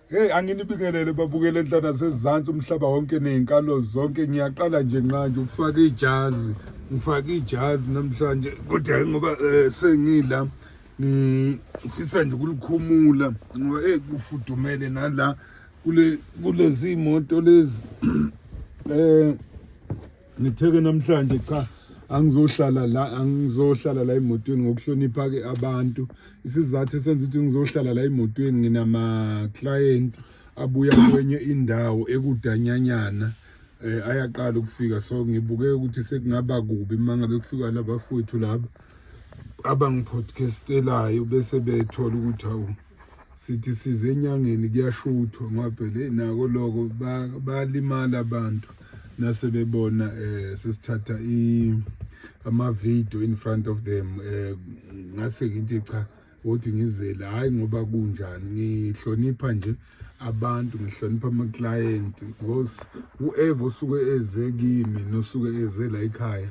Hey anginibingelele babukele enhlana sezantsi umhlaba wonke nezinkalo zonke ngiyaqala nje nqanje ukufaka ijazi ngifaka ijazi namhlanje kodwa hayi ngoba eh, sengila ngifisa nje ukulikhumula ngoba eh kufudumele nala kule kulezi moto lezi eh ngitheke namhlanje cha angizohlala la angizohlala la emotweni ngokuhlonipha ke abantu isizathu esenza ukuthi ngizohlala la emotweni nginama client abuya kwenye indawo ekudanyanyana eh ayaqala ukufika so ngibuke ukuthi sekungaba kubi mangabe kufika labafowethu laba abangipodcastelayo bese bethola ukuthi awu sithi size enyangeni kuyashuthwa ngoba phela nako loko bayalimala abantu nase bebona um sesithatha ama-video in front of them um ngase ngithi cha wothi ngizele hhayi ngoba kunjani ngihlonipha nje abantu ngihlonipha amaklayenti because whoever osuke eze kimi nosuke eze la ekhaya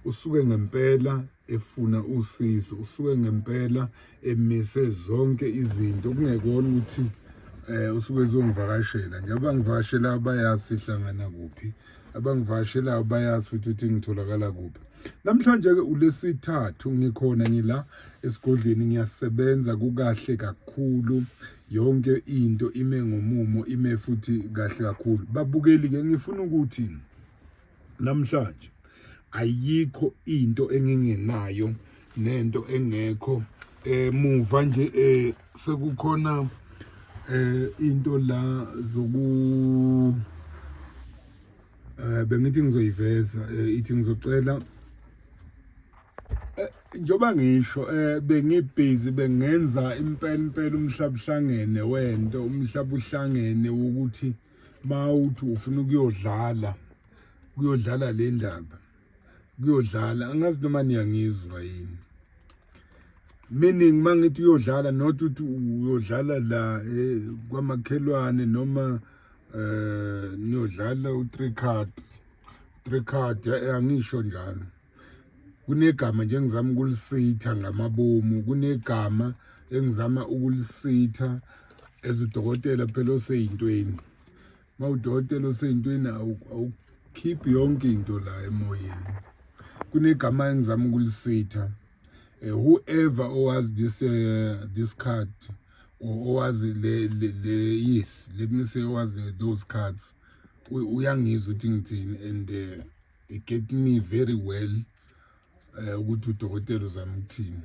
usuke ngempela efuna usizo usuke ngempela emise zonke izinto kungekona ukuthi eh usuke ezongivakashela nje abangivakashela abayazi sihlangana kuphi abangivakashela abayazi futhi ukuthi ngitholakala kuphi namhlanje ke ulesithathu ngikhona ngila esigodlweni ngiyasebenza kukahle kakhulu yonke into ime ngomumo ime futhi kahle kakhulu babukeli ke ngifuna ukuthi namhlanje ayikho into engingenayo nento engekho emuva eh, nje eh, sekukhona eh into la zoku eh bengithi ngizoyiveza eh, ithi ngizocela eh, njoba ngisho eh bengibhizi bengenza impela impela umhlabuhlangene wento umhlabuhlangene ukuthi eh, mawuthi ufuna ukuyodlala kuyodlala le ndaba kuyodlala angazi noma niyangizwa yini meaning mangithi uyodlala not ukuthi uyodlala la eh, kwamakhelwane noma eh niyodlala u3 card 3 card eh, angisho njalo kunegama nje engizama ukulisitha ngamabomu kunegama engizama ukulisitha as udokotela phela oseyintweni uma udokotela oseyintweni awukhiphi yonke into la emoyeni kunegama engizama ukulisitha eh, whoever owazi this uh, this card owazi le le yes let me say owazi those cards uyangizwa ukuthi ngithini and uh, he get me very well eh ukuthi udokotela uzamthini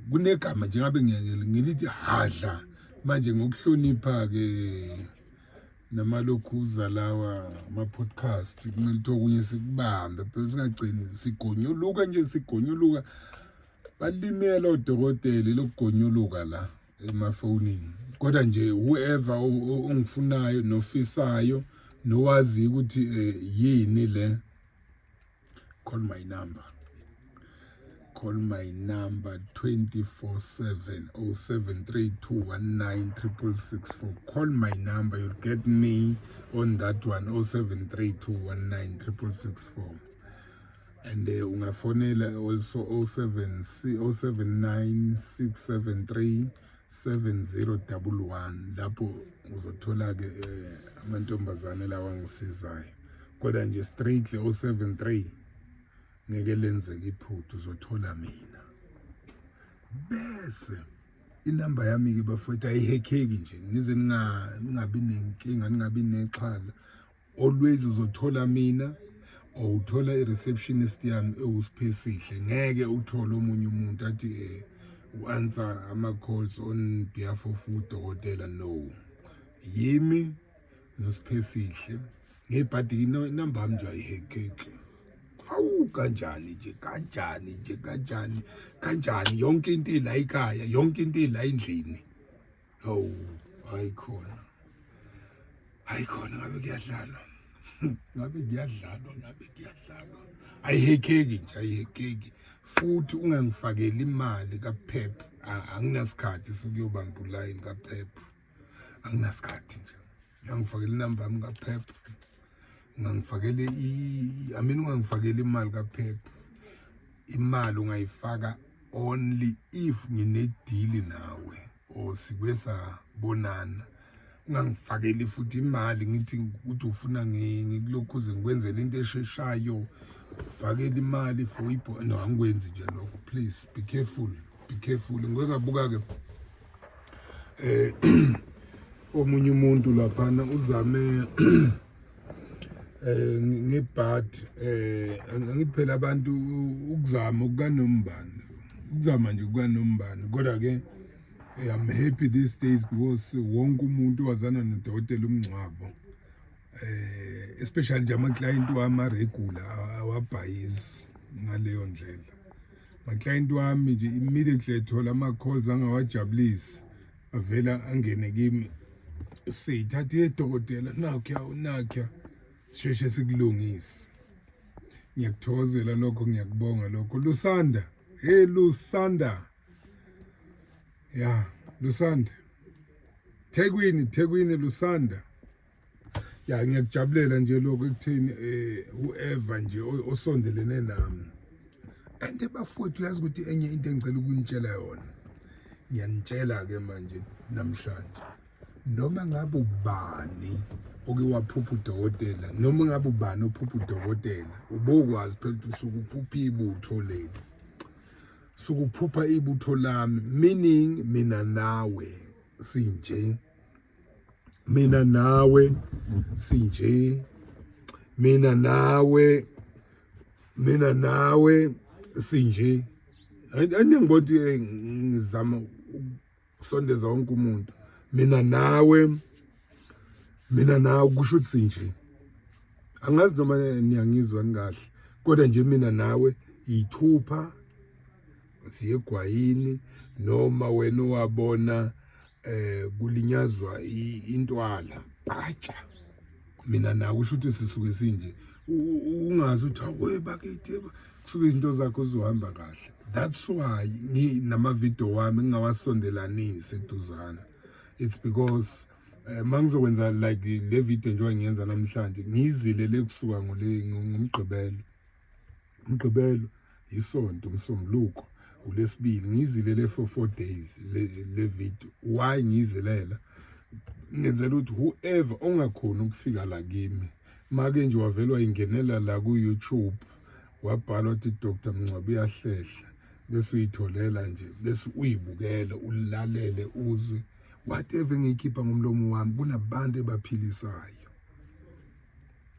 kunegama njengabe ngilithi hadla manje ngokuhlonipha ke namalokhuza lawa ama-podcast kumele ukuthi okunye sikubambe phela singagcini sigonyuluka nje sigonyuluka balimela odokotela lokugonyuluka la emafonini kodwa nje whoever ongifunayo nofisayo nowazi ukuthi eh, yini le call my number call my number 24/7 0732196664 call my number you'll get me on that one 0732196664 and uh, ungafonela also 076 079673 7011 lapho uzothola-ke um eh, amantombazane lawa angisizayo kodwa nje strictly 073 ngeke lenzeke iphutha uzothola mina bese inamba yami-ke bafowethu ayihekheki nje ngize ningabi nenkinga ningabi nexhala always uzothola mina or uthola i-receptionist yami ewusiphesihle ngeke uthole omunye umuntu athi um eh, u-answer ama-calls on behalf of udokotela no yimi nosiphesihle ngebhadi inamba yami nje ayihekeki hawu kanjani nje kanjani nje kanjani kanjani yonke into ila ikhaya yonke into ila endlini hawu hayi khona hayi khona ngabe kuyadlalwa ngabe kuyadlalwa ngabe kuyadlalwa ayihekeki nje ayihekeki futhi ungangifakeli imali kaphep anginasikhathi sokuyobamba ulayini kaphep anginasikhathi nje ungangifakela inamba yami kaphepha ungangifakele i mean ungangifakela imali kaphepha imali ungayifaka only if nginedili nawe or sikwe sabonana ungangifakeli futhi imali ngithi ukuthi ufuna ngikulokhuze ngikwenzela into esheshayo fakela imali for ibho no angikwenzi nje lokho please be careful be careful ngeke abuka-ke eh omunye umuntu laphana uzame eh ngebad eh angiphela abantu ukuzama ukanombani ukuzama nje ukanombani kodwa ke eh, I'm happy these days because wonke umuntu wazana nodokotela umngcwabo eh especially nje ama client wama regular awabhayizi ngaleyo ndlela maclient wami nje immediately ethola ama-calls angawajabulisi avela angene kimi siyithatha yedokotela nakya nakya sisheshe sikulungise ngiyakuthokozela lokho ngiyakubonga lokho lusanda hey lusanda ya lusanda thekwini thekwini lusanda ya ngiyakujabulela nje lokho ekutheni um whoever nje osondelene nami and bafowethu uyazi ukuthi enye into engicela ukunitshela yona ngiyanitshela-ke manje namhlanje noma ngabe ubani oke waphupha udokotela noma ngabe ubani ophupha udokotela ubokwazi phela ukuthi usuke uphupha ibutho leli sukuphupha ibutho lami meaning mina nawe sinje mina nawe sinje mina nawe mina nawe sinje andingibona ukuthi eh, ngizama ukusondeza wonke umuntu mina nawe mina nawe kusho ukuthi sinje angazi noma niyangizwa nikahle kodwa nje mina nawe yithupha siye egwayini noma wena owabona eh kulinyazwa intwala batsha mina naku usho ukuthi sisuke sinje ungazi ukuthi awuye bakithi kusuke izinto zakho zizohamba kahle that's why nginamavidiyo wami ngingawasondelanisi eduzana it's because Eh, mangizokwenza like le video njengoba ngiyenza namhlanje ngiyizile le kusuka ngomgqibelo umgqibelo yisonto umsombuluko ulesibili ngiyizile le for four days le, le video why ngiyizilela ngenzela ukuthi whoever ongakhoni ukufika la kimi make nje wavelwa ingenela la ku-youtube wabhala ukuthi dr mngcwabo uyahlehla bese uyitholela nje bese uyibukele ulalele uzwe whatever engiyikhipha ngomlomo wami kunabantu ebaphilisayo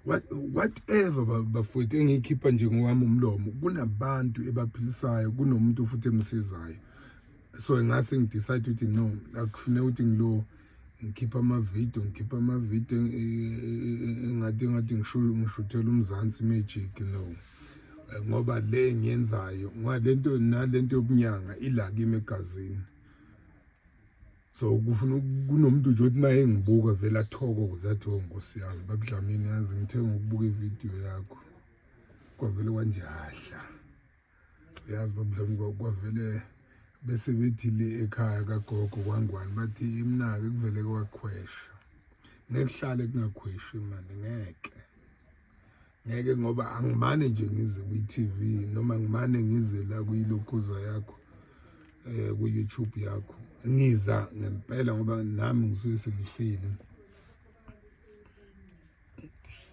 what whatever bafowethu engiyikhipha nje ngowami umlomo kunabantu ebaphilisayo kunomuntu futhi emsizayo so ngase ngidecide ukuthi no akufuneka ukuthi ngilo ngikhipha amavidiyo ngikhipha amavidiyo engathi engathi ngishuthela umzansi magic no ngoba le ngiyenzayo ngoba lento nalento yobunyanga ila kimi egazini so kufuna kunomuntu nje othi maye ngibuka vele athokoze athi oh nkosi yami babudlamini yazi ngithe ngokubuka ividiyo yakho kwavele kwanjahla uyazi babudlami kwavele bese bethi le ekhaya kagogo kwangwani bathi imnake kuvele kwakhwesha ngekuhlale kungakhweshi mani ngeke ngeke ngoba angimane nje ngize kwi-TV noma ngimane ngize la kuyilokhuza yakho eh ku-YouTube yakho ngiza ngempela ngoba nami ngisuke sengihleli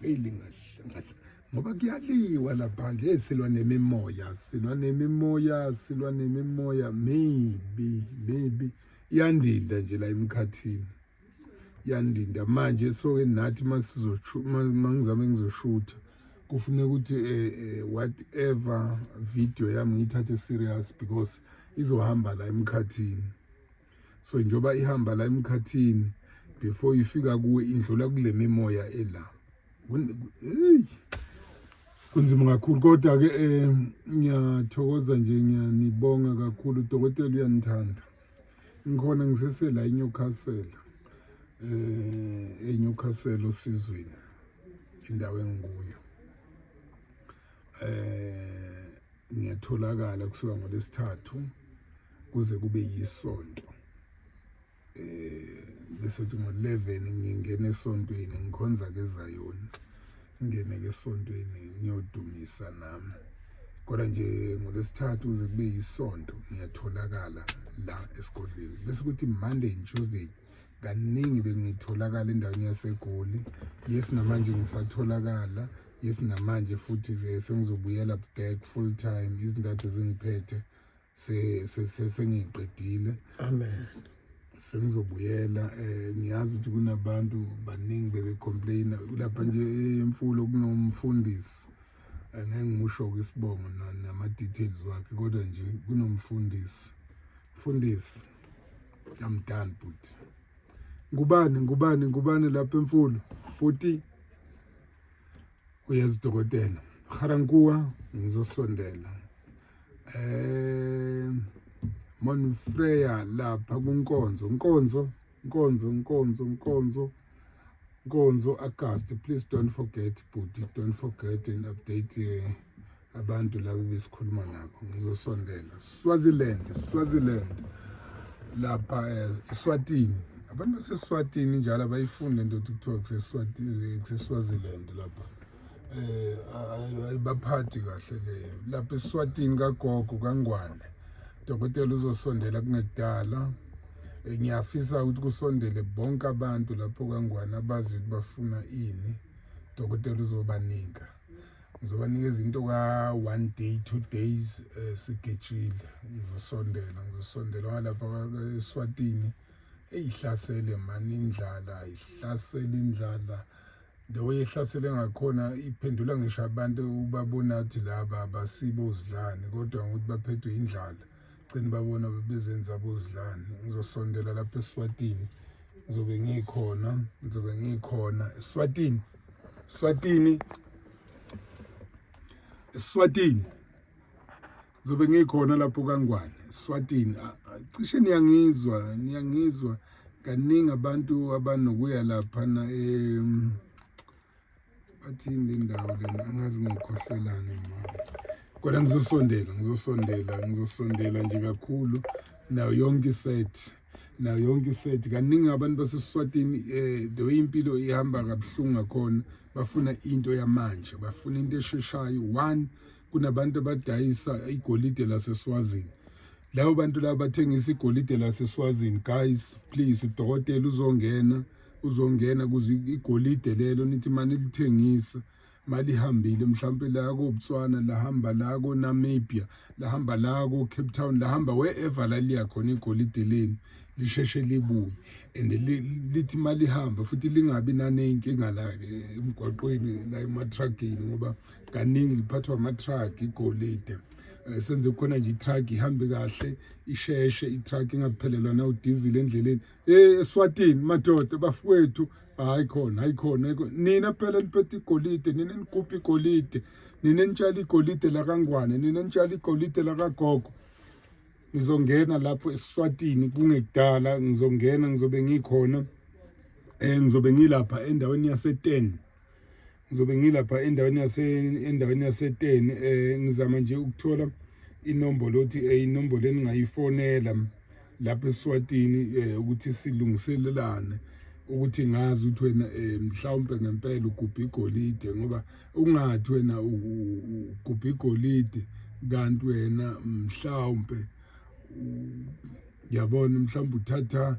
ngihleli ngahle ngoba kuyaliwa lapha nje silwa nemimoya silwa nemimoya silwa nemimoya maybe maybe iyandida nje la emkhathini yandinda manje soke nathi mangizame ngizoshutha kufuneka ukuthi eh, eh, whatever video yami ngiyithathe serious because izohamba la emkhathini so njengoba ihamba la emkhathini before ifika kuwe indlula kule mimoya ela kunzima kakhulu kodwa ke eh, ngiyathokoza nje ngiyanibonga kakhulu udokotela uyanithanda Ngikhona ngisesela eNewcastle. Eh eNewcastle osizweni indawo engikuyo. Eh ngiyatholakala kusuka ngolesithathu kuze kube yisonto. Eh bese ngo-11 ngingena esontweni ngikhonza ke eZayoni. ngingene ke esontweni ngiyodumisa nami kodwa nje ngolwesithathu kuze kube yisonto ngiyatholakala la esigodlweni bese kuthi monday and tuesday kaningi bengitholakala endaweni yasegoli yes namanje ngisatholakala yes namanje futhi sengizobuyela back full time izintathu ezingiphethe sengiqedile sengizobuyela um ngiyazi ukuthi kunabantu baningi bebecomplaina lapha nje emfulo kunomfundisi eh, ngeke ngimusho-ke isibongo nama-details wakhe kodwa nje kunomfundisi mfundisi amdani bhuti ngubani ngubani ngubani lapha emfulo bhuti uyezidokotela harankuwa ngizosondela eh Monfreya lapha kunkonzo nkonzo nkonzo nkonzo nkonzo nkonzo August please don't forget bhuti don't forget and update eh, abantu labo besikhuluma nabo ngizosondela Swaziland Swaziland lapha eh, eSwatini abantu baseswatini njalo abayifuni lento kuthiwa kuseswatini kuseswaziland lapha eh ayibaphathi kahle le lapha eSwatini kagogo kangwane dokotela uzosondela kungekudala eh, ngiyafisa ukuthi kusondele bonke abantu lapho kangwane abazi ukuthi bafuna ini dokotela uzobanika ngizobanika izinto ka one day two days eh, sigejile ngizosondela ngizosondela ngalapha eSwatini eyihlasele mani indlala ihlasele indlala the way ehlasele ngakhona iphendula ngisho abantu ubabona ukuthi laba abasibo uzidlani kodwa ngokuthi baphethwe indlala gcina babona bezenza abozidlani ngizosondela lapha eswatini ngizobe ngikhona ngizobe ngikhona eswatini eswatini eswatini Zobe ngikhona lapho kaNgwane, Swatini. Cishe niyangizwa, niyangizwa kaningi abantu abanokuya lapha na em bathini le ndawo lena angazi ngiyikhohlelani mama. Kodwa ngizosondela, ngizosondela, ngizosondela nje kakhulu nayo yonke iset nayo yonke iset kaningi abantu basesiswatini um eh, the way impilo ihamba kabuhlungu ngakhona bafuna into yamanje bafuna into esheshayo one kunabantu abadayisa igolide laseSwazini labo bantu laba bathengisa igolide laseSwazini guys please udokotela uzongena uzongena kuze igolide lelo nithi mani lithengisa malihambile mhlawumbe la koBotswana lahamba la koNamibia lahamba la koCape Town lahamba wherever la liya khona igolide leni lisheshe libuye and lithi malihamba futhi lingabi naneyinkinga la eh, emgwaqweni la ematruckini ngoba kaningi liphathwa ama-truck igolide um senze khona nje i-truck ihambe kahle isheshe i-truck ingaphelelwa nawudizile endleleni ey eswatini madoda bafowethu hayi khona hayi khona nina phela niphethe igolide nina nikuphi igolide nina nitshale igolide lakangwane nina nitshale igolide lakagogo ngizongena lapho esiswatini kungekudala ngizongena ngizobe ngikhona um ngizobe ngilapha endaweni yase-ten ngizobe ngilapha endaweni yase endaweni yaseteni eh ngizama nje ukuthola inombolo othi eh, inombolo eningayifonela lapha eSwatini eh ukuthi silungiselelane ukuthi ngazi ukuthi wena eh, mhlawumbe ngempela ugubha igolide ngoba ungathi wena ugubha igolide kanti wena mhlawumbe yabona mhlawumbe uthatha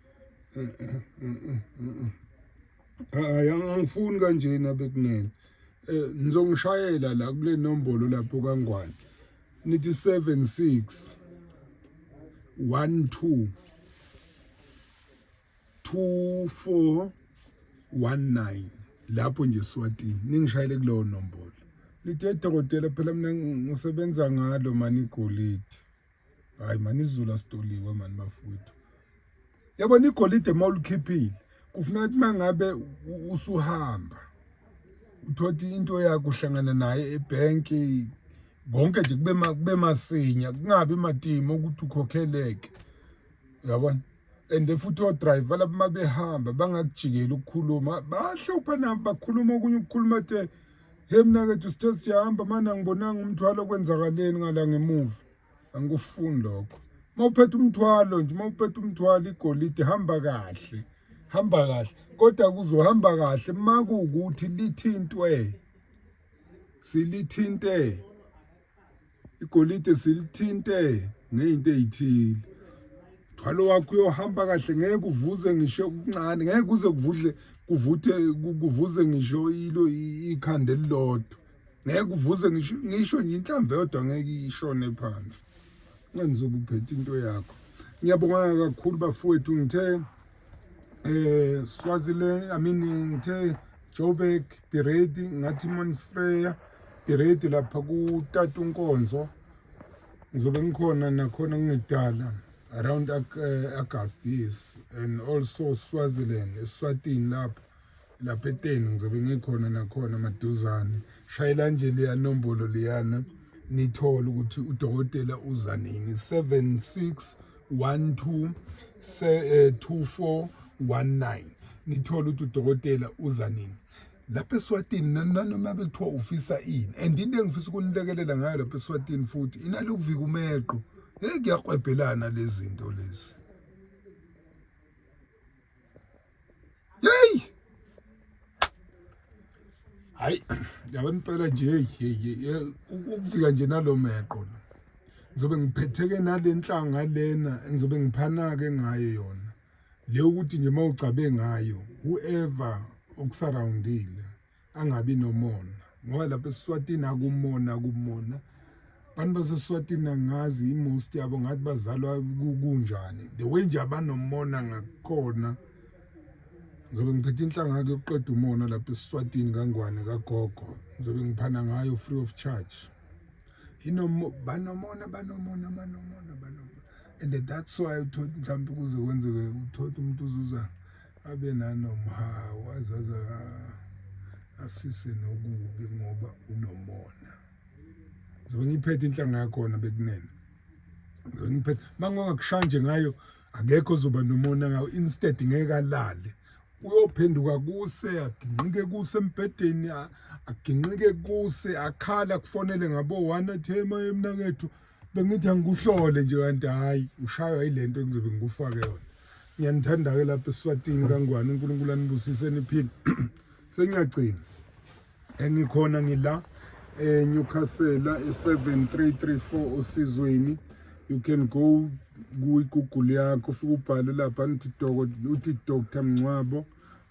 hayi angangifuni kanjena bekunene eh ngizongishayela la kule nombolo lapho kangwane nithi 76 12 2419 lapho nje Swatini ningishayele kulowo nombolo lithe dokotela phela mina ngisebenza ngalo manigolide hayi mani izulu asitoliwe mani bafowethu yabona igolide uma ulikhiphile kufuneka ukuthi uma ngabe usuhamba uthothi into yakho uhlangana naye ebhenki konke nje kube kube masinya kungabi matimo ukuthi ukhokheleke yabona and futhi odriver laba uma behamba bangakujikeli ukukhuluma bahlupha nabo bakhuluma okunye ukukhuluma the Hey mna kethu sithe siyahamba manje angibonanga umthwalo kwenzakaleni ngala ngemuva. Angikufuni lokho. Mawuphethe umthwalo nje mawuphethe umthwalo igolide hamba kahle. Hamba kahle. Kodwa kuzohamba kahle makuwukuthi lithintwe. Silithinte. igolide silithinte ngeyinto ezithile thwalo wakho uyohamba kahle ngeke uvuze ngisho okuncane ngeke kuze kuvudle kuvuthe kuvuze ngisho ilo ikhanda elilodwa ngeke kuvuze ngisho ngisho nje inhlamvu yodwa ngeke ishone phansi ngenza ukuphetha into yakho ngiyabonga kakhulu bafowethu ngithe eh Swaziland I mean ngithe Joburg Biredi ngathi Monfreya Biredi lapha ku Tatu Nkonzo ngizobe ngikhona nakhona ngidala around uh, August yes and also Swaziland eSwatini lapho lapha eteni ngizobe ngikhona nakhona maduzane shayela nje leya nombolo leyana nithole ukuthi udokotela uza nini 76 12 2419 nithole ukuthi udokotela uza nini lapha eswatini nanoma bekuthiwa ufisa ini and into engifisa ukunilekelela ngayo lapha eswatini futhi inalokuvika umeqo hey kuyakwebhelana lezi zinto lezi Hey! Hayi, yabona impela nje hey hey ukufika nje nalomeqo la. Ngizobe ngiphetheke nalenhlanga lena engizobe ngiphanake ngayo yona. Le ukuthi nje mawugcabe ngayo whoever okusurroundile. angabi nomona ngoba lapha esiswatini akumona kumona abantu baseswatini angazi imost yabo ngathi bazalwa kunjani the way nje abanomona ngakhona ngizobe ngiphethe inhlanga yakhe yokuqeda umona lapha esiswatini kangwane kagogo ngizobe ngiphana ngayo free of charge inomona banomona banomona banomona banomona and that's why uthotha mhlawumbe kuze kwenzeke uthotha umuntu uzuza abe nanomhawu azaza afise nokubi ngoba unomona zobe ngiphethe inhlanga yakhona bekunene zobe ngiphethe mangongakushaya nje ngayo akekho ozoba nomona ngawo instead ngeke alale uyophenduka kuse aginqike kuse embhedeni aginqike kuse akhala kufonele ngabo one athi hey mayemnakethu bengithi angikuhlole nje kanti hhayi ushaywa yile nto engizobe ngikufake yona ngiyanithanda-ke lapha esiswatini kangwane unkulunkulu anibusise niphile sengiyagcina engikhona ngila eNewcastle e7334 osizweni you can go kuyigoogle yakho ufike ubhale lapha nithi uthi dr mncwabo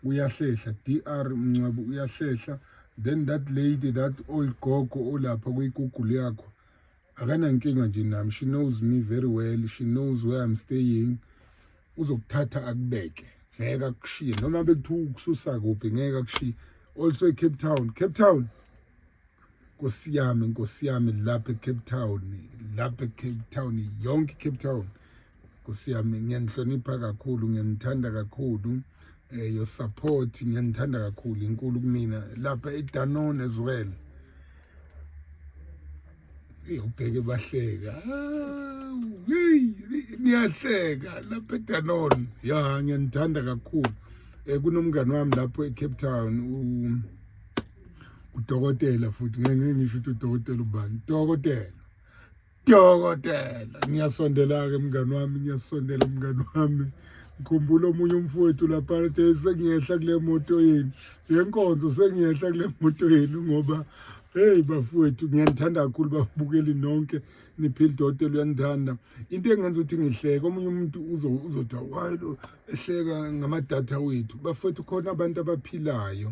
uyahlehla dr mncwabo uyahlehla then that lady that old gogo olapha kuyigoogle yakho akanankinga nje nami she knows me very well she knows where i'm staying uzokuthatha akubeke ngeke akushiye noma bekuthiwa ukususa kuphi ngeke akushiye also ecape town cape town nkosi yami nkosi yami lapha ecape town lapha ecape town yonke icape town kusiyami ngiyanihlonipha kakhulu ngiyanithanda kakhulu eh your support ngiyanithanda kakhulu inkulu kumina lapha eDanon as well ubheke bahleka ah, niyahleka lapha eDanon ya ngiyanithanda kakhulu eh kunomngane wami lapho eCape Town u udokotela futhi ngeke ngisho ukuthi udokotela ubani dokotela Dokotela, ngiyasondela-ke mngani wami, ngiyasondela mngani wami. Ngikhumbula omunye umfowethu lapha athe sengiyehla kule moto yenu. Yenkonzo sengiyehla kule moto yenu ngoba Hey bafowethu ngiyanithanda kakhulu babukeli nonke niphile dote luyanithanda into engenza ukuthi ngihleke omunye umuntu uzothi why lo ehleka ngamadatha wethu bafowethu khona abantu abaphilayo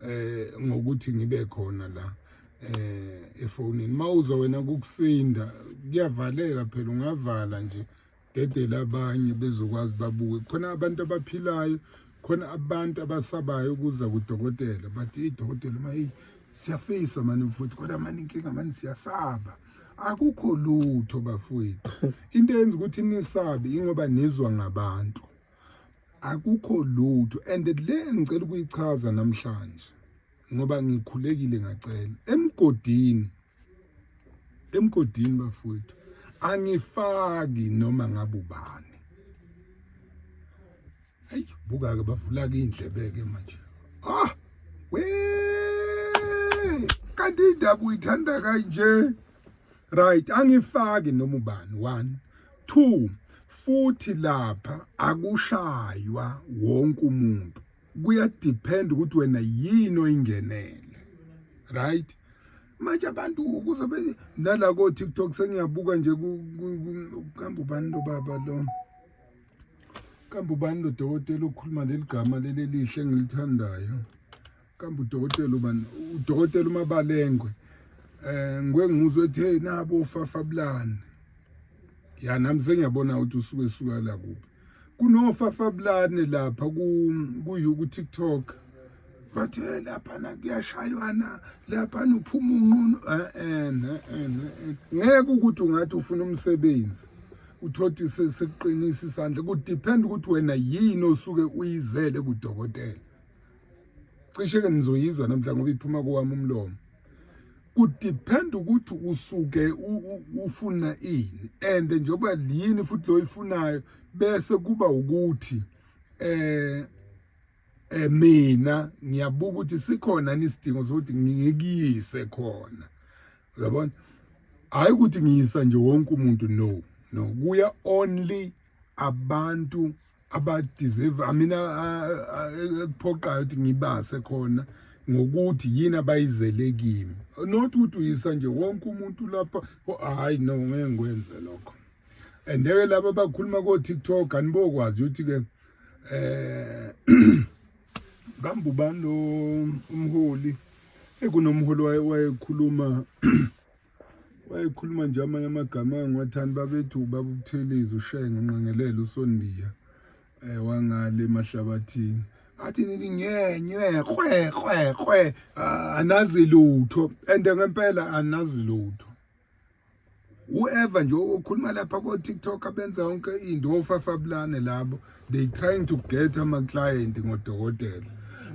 eh ngokuthi ngibe khona la eh efonini mawuza wena kukusinda kuyavaleka phela ungavala nje dedela abanye bezokwazi babuke khona abantu abaphilayo khona abantu abasabayo ukuza kudokotela bathi idokotela mayi siyafisa mani mfowethu kodwa mani inkinga mani siyasaba akukho lutho bafowethu into yenza ukuthi nisabe ingoba nizwa ngabantu akukho lutho and le engicela ukuyichaza namhlanje ngoba ngikhulekile ngacela emgodini emgodini bafowethu angifaki noma ngabe ubani ayi buka ke bavula ke indlebe ke manje ah we kanti indaba uyithanda kanje right angifaki noma ubani one two futhi lapha akushaywa wonke umuntu kuyadepend ukuthi wena yini oyingenele right manje abantu ukuze nala ko TikTok sengiyabuka nje kuhamba ubani lo baba lo kambe ubani lo dokotela okhuluma leli gama leli lihle engilithandayo kambe udokotela ubani udokotela umabalengwe eh ngwe ngizwe ethe nabo fafabulani ya nami sengiyabona ukuthi usuke suka la kuphi kunofafabulane lapha ku ku TikTok bathe eh, lapha na kuyashaywana lapha nuphuma unqunu eh, eh, eh ngeke ukuthi ungathi ufuna umsebenzi uthothi sekuqinisa isandla ku depend ukuthi wena yini osuke uyizele kudokotela cishe ke nizoyizwa namhla ngoba iphuma kowami umlomo kudepend ukuthi usuke ufuna ini and njengoba yini futhi lo ifunayo bese kuba ukuthi eh eh mina ngiyabuka ukuthi sikhona nisidingo sokuthi ngikuyise khona uyabona hayi ukuthi ngiyisa nje wonke umuntu no no kuya only abantu abadeserve i mean ekuphoqayo ukuthi ngibase khona ngokuthi yini abayizele kimi not ukuthi uyisa nje wonke umuntu lapha hayi no ngeke ngikwenze lokho and ke laba abakhuluma ko TikTok anibokwazi ukuthi ke eh kambe ubani lo umholi ekunomholi wayekhuluma wayekhuluma nje amanye amagama angiwathandi babethu ubaba ubuthelezi ushenge unqengelele usondiya um eh, wangale emahlabathini athi nini nyenywe kwe kwe kwe ah, anazi lutho and ngempela anazi lutho whoever nje okhuluma lapha ko-tiktok abenza yonke into ofafabulane labo they trying to get ama client ngodokotela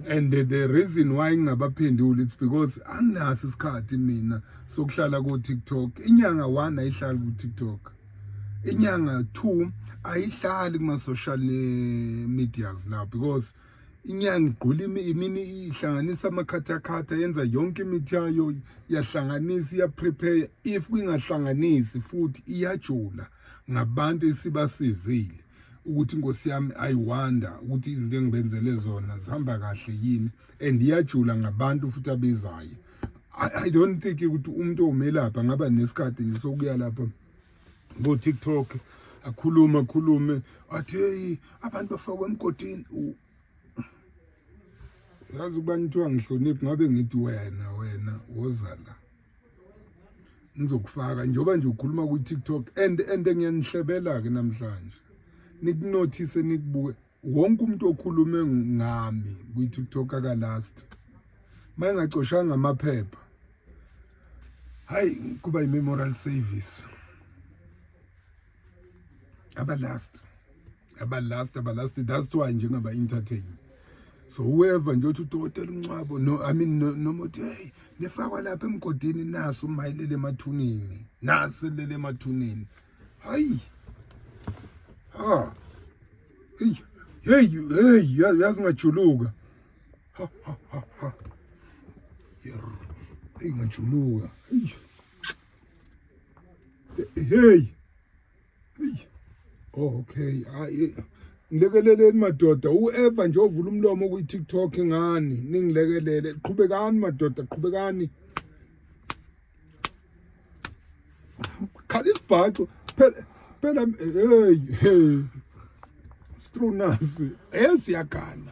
and the, the reason why ngingabaphenduli it's because anginaso isikhathi mina sokuhlala ku TikTok inyanga 1 ayihlali ku TikTok inyanga 2 ayihlali kuma social eh, medias la because inyanga igqula imini ihlanganisa amakhathakhatha yenza yonke imithi yayo yahlanganisa iyaprepare if kwingahlanganisi futhi iyajula ngabantu esibasizile ukuthi inkosi yami i wonder ukuthi izinto engibenzele zona zihamba kahle yini and iyajula ngabantu futhi abezayo i don't think ukuthi umuntu omelapha ngaba nesikhathi nje sokuya lapha ngo TikTok akhulume akhulume athi hey abantu bafakwe emgodini yazi uba nithiwa ngihloniphi ngabe ngithi wena wena woza la ngizokufaka njengoba nje ukhuluma kwi-tiktok and and ngiyanihlebela-ke namhlanje nikunothise nikubuke wonke umuntu okhulume ngami kwi-tiktok akalast uma engacoshanga amaphepha hhayi kuba yi-memorial service aba last aba last aba last that's why nje ngaba entertain so whoever nje uthi udokotela uncwabo no i mean noma uthi hey nifakwa lapha emgodini naso umayilele emathuneni nase lele emathuneni hayi ha hey hey hey yazi ngajuluka ha ha ha ha ingajuluka hey Hey. Oh, okay. Hayi. Ngilekeleleni madoda, uEva nje ovula umlomo ku TikTok ngani? Ningilekelele. Qhubekani madoda, qhubekani. Khala isibhaxo. Phela phela hey hey. Strunasi. Hey siyagana.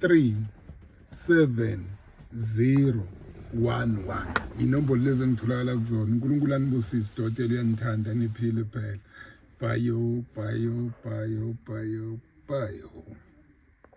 37011 inombolo lezi engitholakala kuzona unkulunkulu anibusise dotela uyanithanda niphile phela bayo bayo bayo bayo bayo